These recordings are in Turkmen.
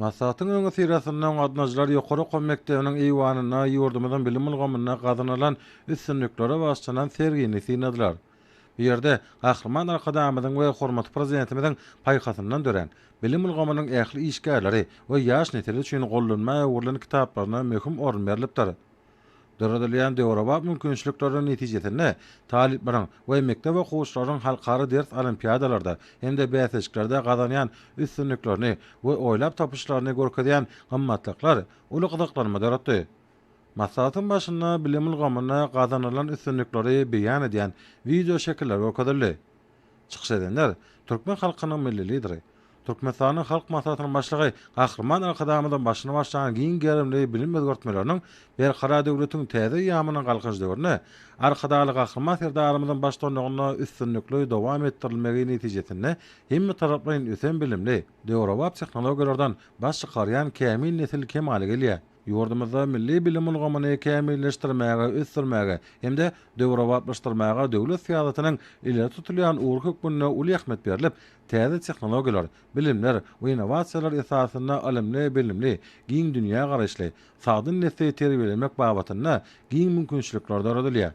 Maslahatyň öňüsyrasynda gaznajylar ýokary okuw mekdebiniň eýwanynda ýurdumyzyň bilim ulgamynda gazanylan üstünliklere bagyşlanan sergini synladylar. Bu ýerde Gahryman Arkadagymyzyň we hormatly Prezidentimiziň paýhasyndan dörän, bilim ulgamynyň ähli işgärleri we ýaş nesil üçin gollanma öwrülen kitaplaryna möhüm orun berlipdir. Döredilýän döwrebap mümkinçilikleriň netijesinde talyplaryň we mekdep okuwçylarynyň halkara ders olimpiadalarda hem-de bäsleşiklerde gazanýan üstünliklerini we oýlap tapyşlaryny görkezýän gymmatlyklar uly gyzyklanma döretdi. Maslahatyň başynda bilim ulgamynda gazanylan üstünlikleri beýan edýän wideoşekiller görkezildi. Çykyş edenler, türkmen halkynyň Milli Lideri, Türkmenistanyň Halk Maslahatynyň Başlygy Gahryman Arkadagymyzyň başyny başlan giň gerimli bilim özgertmeleriniň Berkarar döwletiň täze eýýamynyň Galkynyş döwründe Arkadagly Gahryman Serdarymyzyň baştutanlygynda üstünlikli dowam etdirilmegi netijesinde hemmetaraplaýyn ösen bilimli, döwrebap tehnologiýalardan baş çykarýan kämil nesil kemala gelýär. Ýurdumyzda milli bilim ulgamyny kämilleşdirmäge, ösdürmäge hem-de döwrebaplaşdyrmaga döwlet syýasatynyň ileri tutulýan ugry hökmünde uly ähmiýet berlip, täze tehnologiýalar, bilimler we innowasiýalar esasynda ylymly, bilimli, giň dünýägaraýyşly, sagdyn nesli terbiýelemek babatynda giň mümkinçilikler döredilýär.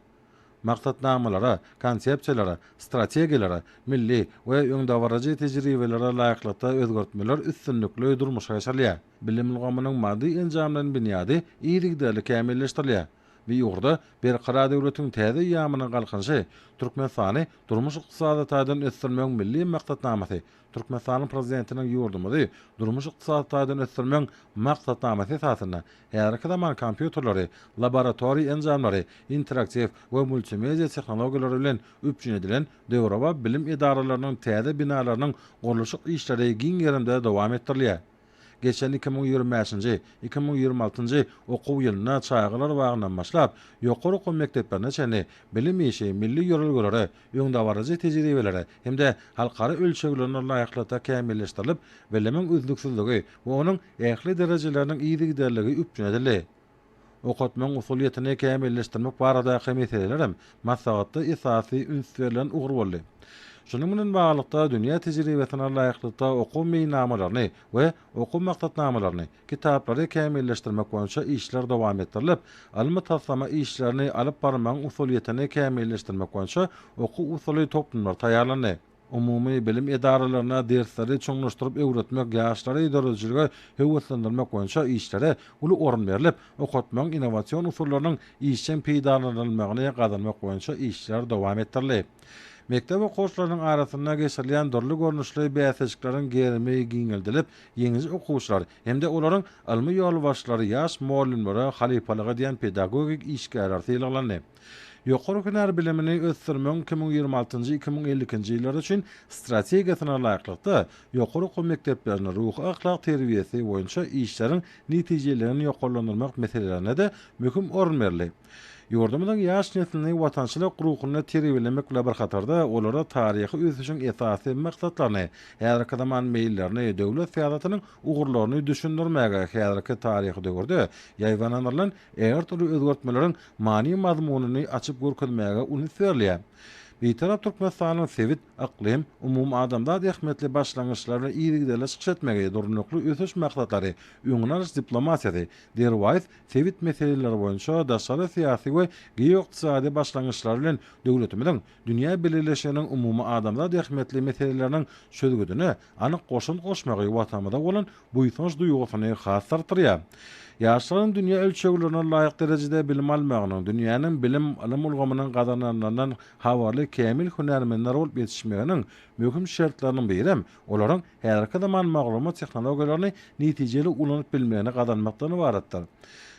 Maksatnamalara, konsepsiýalara, strategiýalara, milli we öňdebaryjy tejribelere laýyklykda özgertmeler üstünlikli durmuşa geçirilýär. Bilim ulgamynyň maddy-enjamlaýyn binýady yzygiderli kämilleşdirilýär. Bu ugurda Berkarar döwletiň täze eýýamynyň Galkynyşy, Türkmenistany durmuş-ykdysady taýdan ösdürmegiň milli maksatnamasy, Türkmenistanyň Prezidentiniň ýurdumyzy durmuş-ykdysady taýdan ösdürmegiň maksatnamasy esasynda häzirki zaman kompýuterleri, laboratoriýa enjamlary, interaktiw we multimedia tehnologiýalary bilen üpjün edilen döwrebap bilim edaralarynyň täze binalarynyň gurluşyk işleri giň gerimde dowam etdirilýär. Geçen iki müň ýigrimi bäşinji, iki müň ýigrimi altynjy okuw ýylynda çagalar bagyndan başlap, ýokary okuw mekdeplerine çenli bilim işi milli ýörelgelere, öňdebaryjy tejribelere hem-de halkara ölçeglerine laýyklykda kämilleşdirilip, bilimiň üznüksizligi we onuň ähli derejeleriniň yzygiderligi üpjün edildi. okatmagyň usulyýetini kämilleşdirmek baradaky meseleler hem maslahatda esasy üns berlen ugur boldy. Şunuň bilen baglylykda, dünýä tejribesine laýyklykda okuw meýilnamalaryny we okuw maksatnamalaryny, kitaplary kämilleşdirmek boýunça işler dowam etdirilip, ylmy-taslama işlerini alyp barmagyň usulyýetini kämilleşdirmek boýunça okuw-usuly toplumlar taýýarlandy. Umumy bilim edaralaryna dersleri çuňlaşdyryp öwretmek, ýaşlary döredijilige höweslendirmek boýunça işlere uly orun berlip, okatmagyň innowasion usullarynyň işjeň peýdalanylmagyny gazanmak boýunça işler dowam etdirildi. Mekdep okuwçylarynyň arasynda geçirilýän dürli görnüşli bäsleşikleriň gerimi giňeldilip, ýeňiji okuwçylar hem-de olaryň ylmy ýolbaşçylary ýaş mugallymlara halypalyk edýän pedagogik işgärler sylaglandy. Ýokary hünär bilimini ösdürmegiň iki müň ýigrimi altynjy iki müň elli ikinji ýyllary üçin strategiýasyna laýyklykda, ýokary okuw mekdeplerinde ruhy-ahlak terbiýesi boýunça işleriň netijeligini ýokarlandyrmak meselelerine-de möhüm orun berildi. Ýurdumyzyň ýaş neslini watançylyk ruhunda terbiýelemek bilen bir hatarda, olarda taryhy ösüşiň esasy maksatlaryny, häzirki zaman meýillerini, döwlet syýasatynyň ugurlaryny düşündirmäge, häzirki taryhy döwürde ýaýbaňlandyrylan ähli türlü özgertmeleriň many-mazmunyny açyp görkezmäge uny berýär. Bitarap Türkmenistanyň sebit, yklym, umumadamzat ähmiýetli başlangyçlary we yzygiderli çykyş etmegi, durnukly ösüş maksatlary, öňüni alyş diplomatiýasy, derwaýys sebit meseleleri boýunça daşary syýasy we geoykdysady başlangyçlary bilen döwletimiziň dünýä bileleşiginiň umumyadamzat ähmiýetli meseleleriniň çözgüdine anyk goşant goşmagy Watanymyza bolan buýsanç duýgusyny has artdyrýar. Ýaşlaryň dünýä ölçeglerine laýyk derejede bilim almagynyň, dünýäniň bilim, ylym ulgamynyň gazananlaryndan habarly kämil hünärmenler bolup ýetişmeginiň möhüm şertleriniň birem olaryň häzirki zaman maglumat tehnologiýalaryny netijeli ulanyp bilmegini gazanmakdan ybaratdyr.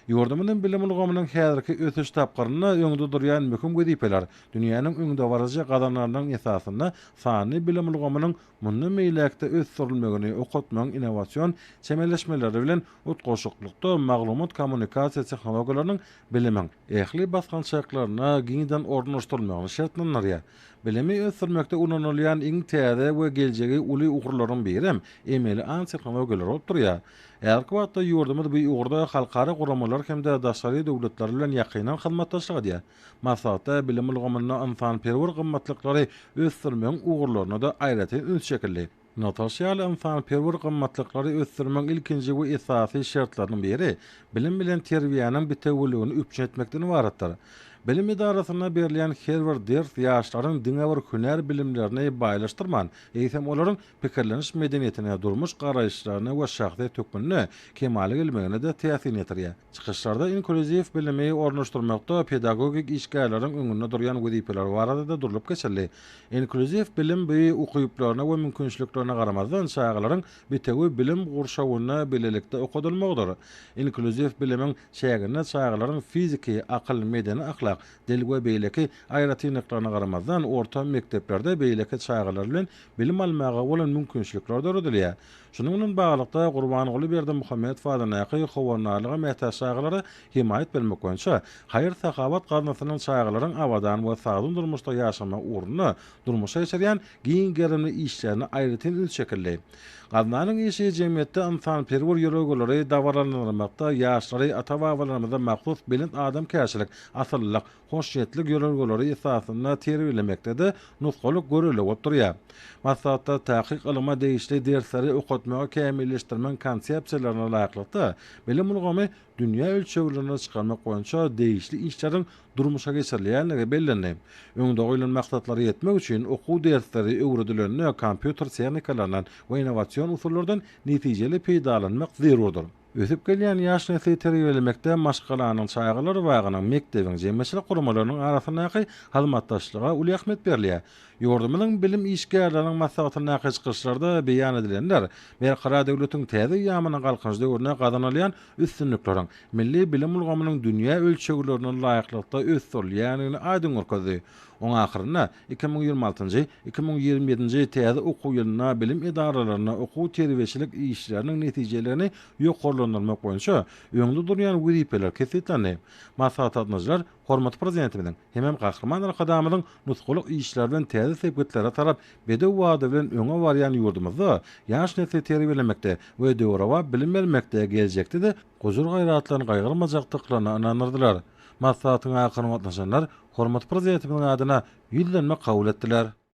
Ýurdumyzyň bilim ulgamynyň häzirki ösüş tapgyrynda öňde durýan möhüm wezipeler Dünýäniň öňdebaryjy gazananlarynyň esasynda sanly bilim ulgamynyň mundan beýläk-de ösdürilmegini, okatmagyň innowasion çemeleşmeleri bilen utgaşyklykda maglumat-kommunikasiýa tehnologiýalarynyň bilimiň ähli basgançaklarynda giňden ornaşdyrylmagyny şertlendirýär. Bilimi ösdürmekde ulanylýan iň täze we geljegi uly ugurlaryň biri hem emeli aň tehnologiýalary bolup durýar. Häzirki wagtda ýurdumyz bu ugurda halkara guramalar hem-de daşary döwletler bilen ýakyndan hyzmatdaşlyk edýär. Maslahatda bilim ulgamynda ynsanperwer gymmatlyklary ösdürmegiň ugurlaryna-da aýratyn üns çekildi. Nygtalyşy ýaly, ynsanperwer gymmatlyklary ösdürmegiň ilkinji we esasy şertleriniň biri bilim bilen terbiýäniň bitewüligini üpjün etmekden ybaratdyr. Bilim edarasynda berilýän her bir ders ýaşlaryň diňe bir hünär bilimlerini baýlaşdyrman, eýsem olaryň pikirleniş medeniýetine, durmuş garaýyşlaryna we şahsyýet hökmünde kemala gelmegine-de täsirini ýetirýär. Çykyşlarda inklýuziw bilimi ornaşdyrmakda pedagogik işgärleriň öňünde durýan wezipeler barada-da durlup geçildi. Inklýuziw bilim bu ukyplaryna we mümkinçiliklerine garamazdan çagalaryň bitewi bilim gurşawynda bilelikde okadylmagydyr. Inklýuziw bilimiň çäginde çagalaryň fiziki, akyl, medeni-ahlak, dil we beýleki aýratynlyklaryna garamazdan orta mekdeplerde beýleki çagalar bilen bilim almaga bolan mümkinçilikler döredilýär. Şunuň bilen baglylykda, Gurbanguly Berdimuhamedow adyndaky Howandarlyga mätäç çagalara hemaýat bermek boýunça haýyr-sahawat gaznasynyň çagalaryň abadan we sagdyn durmuşda ýaşamagy ugrunda durmuşa geçirýän giň gerimli işlerine aýratyn üns çekildi. Gaznanyň işi jemgyýetde ynsanperwer ýörelgeleri dabaralandyrmakda, ýaşlary ata-babalarymyza mahsus belent adamkärçilik, asyllylyk, hoşniýetlik ýörelgeleri esasynda terbiýelemekde-de nusgalyk görelde bolup durýar. Maslahatda takyk ylyma degişli dersleri okatmagy kämilleşdirmegiň konsepsiýalaryna laýyklykda, bilim ulgamy dünýä ölçeglerine çykarmak boýunça degişli işleriň durmuşa geçirilýändigi bellendi. Öňde goýlan maksatlara ýetmek üçin okuw dersleri öwredilende kompýuter tehnikalaryndan we innowasion usullardan netijeli peýdalanmak zerurdyr. Ösüp gelýän ýaş nesli terbiýelemekde maşgalanyň, çagalar bagynyň, mekdebiň, jemgyýetçilik guramalarynyň arasyndaky hyzmatdaşlyga uly ähmiýet berilýär. Ýurdumyzyň bilim işgärleriniň maslahatyndaky çykyşlarda beýan edilenler Berkarar döwletiň täze eýýamynyň Galkynyş döwründe gazanylýan üstünlikleriň milli bilim ulgamynyň dünýä ölçeglerine laýyklykda ösdürilýändigini aýdyň görkezdi. Oňahyrynda Iki müň ýigrimi altynjy, iki müň ýigrimi ýedinji täze okuw ýylynda bilim edaralarynda okuw-terbiýeçilik işleriniň netijelerini ýokarlandyrmak boýunça öňde durýan wezipeler kesgitlendi. Maslahat gatnaşyjylar hormatly Prezidentimiziň hemem Gahryman Arkadagymyzyň nusgalyk işleri bilen täze sepgitlere tarap bedew wada bilen öňe barýan ýurdumyzda ýaş nesli terbiýelemekde we döwrebap bilim bermekde geljekde-de gujur-gaýratlaryny gaýgyrmajakdyklaryna ynandyrdylar. Maslahatyň ahyryna gatnaşanlar Hormatly Prezidentimiziň adyna Ýüzlenme kabul etdiler.